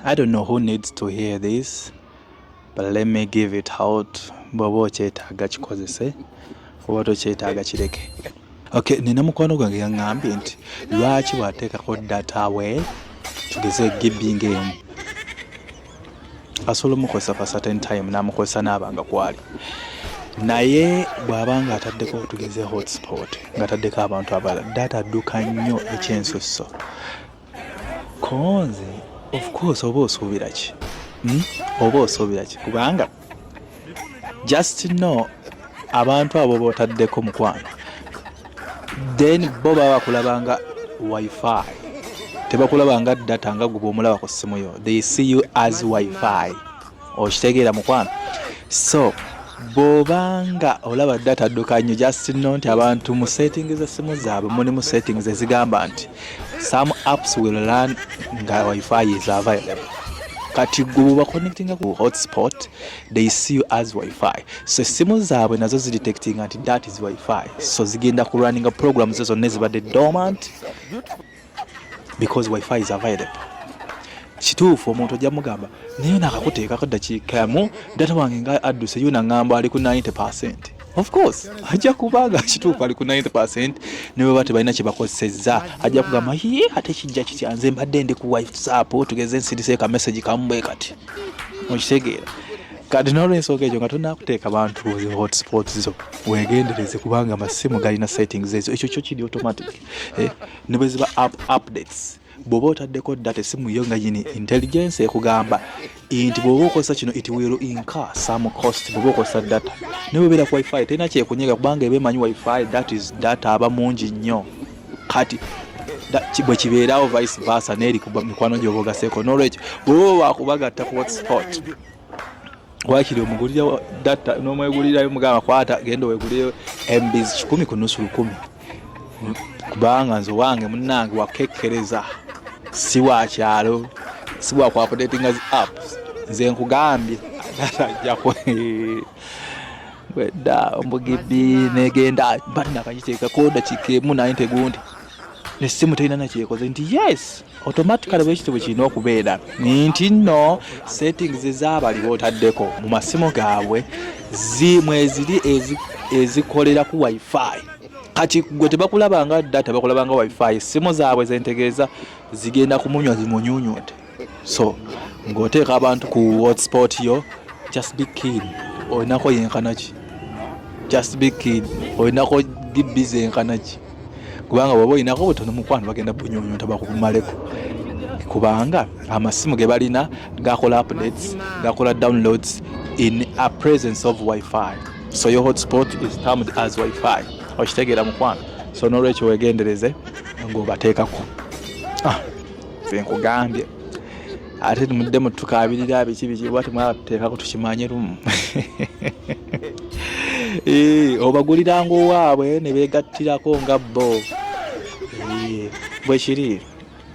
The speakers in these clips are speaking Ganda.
I don't know who needs to hear this but let me give it out bw'oba okyetaaga kikozese oba tokyetaaga kireke okay nina mukwano gwange yaŋŋambye nti lwaki bw'ateekako data we tugeze gibinga emu asobola omukozesa for certain time n'amukozesa n'aba nga kwali naye bw'aba nga ataddeko tugeze hotspot ng'ataddeko abantu abalala data adduka nnyo ekyensusso konze of course oba osuubira ki hmm? oba osuubira ki kubanga just know abantu abo botaddeko mukwano then bo baba bakulaba nga wifi tebakulaba nga data nga guba omulaba ku ssimu yo they see you as wifi okitegeera mukwano so bwoba nga olaba data adduka nnyo just no nti abantu mu setting z'essimu zaabwe muli mu settings ezigamba nti some apps will learn nga wifi is available kati gwe bwebaconnectinga ku hotspot they see you as wifi so essimu zaabwe nazo zidetectinga nti that is wifi so zigenda ku runninga programs ezo zonna ezibadde dormant because wifi is available kituufu omuntu ojja mugamba naye nakakuteekako dakiika yamu data wange nga adduse yo nangamba ali ku 90 percent of course ajja kubanga kituufu ali ku 90 percent nebweba tebalina kyebakozesezza ajja kugamba ye ate kijja kitya nze mbadde ndi ku whatsapp tugeze nsirise ka message kamubwe kati okitegeera kati nolwensonga ekyo nga tonakuteeka bantu hotspot zo wegendereze kubanga amasimu galina settings ezo ekyo kyo kiri automatic eh, ne bwe ziba app updates bw'oba otaddeko data esimu yo nga yini intelligence ekugamba nti bw'oba okozesa kino it will incur some cost bw'oba okozesa data ne bwebeera ku wifi terina kyekunyega kubanga eba emanyi wifi that is data aba mungi nnyo kati bwe kibeerawo vice versa n'eri ku mikwano gy'oba ogaseeko n'olwekyo bw'oba wakubagatta ku hotspot wakiri omugulira data nomwegulirayo mugamba kwata genda wegulireyo embizi kikumi ku nusu lukumi kubanga nze owange munange wakekkereza si wa kyalo si wa kuapudatinga zi apps nze nkugambye atajjako bwedda ombugibi negenda banakakiteekako dakika emu naye ntegundi ne ssimu terina nakyekoze nti yes automatically bwekityo bwe kirina okubeera nti nno settings ezabali botaddeko mu masimu gaabwe mweziri ezikolera ku wifi kati gwe tebakulabanga data bakulabanga wifi essimu zaabwe zentegeeza zigenda kumunywa zimunyunyute so ng'oteeka abantu ku hotspot yo just be kid olinako yenkanaki just be kid olinako dibbiza enkanaki kubanga bwaba olinako butono mukwano bagenda bunyonyonta bakukumaleko kubanga amasimu ge balina gakola updates gakola downloads in a presence of wifi so your hotspot is termed as wifi okitegeera mukwano so nolwekyo wegendereze ng'obateekako ah. nkugambye ate mudde mutukabirira biki biki oba temwateekako tukimanye lumu eh, obaguliranga owaabwe ne beegattirako nga bo eh, bwe kiri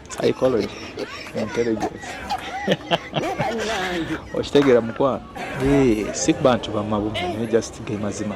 psychology intelligence okitegeera mukwano eh, si kubantu bamabumu naye just ge mazima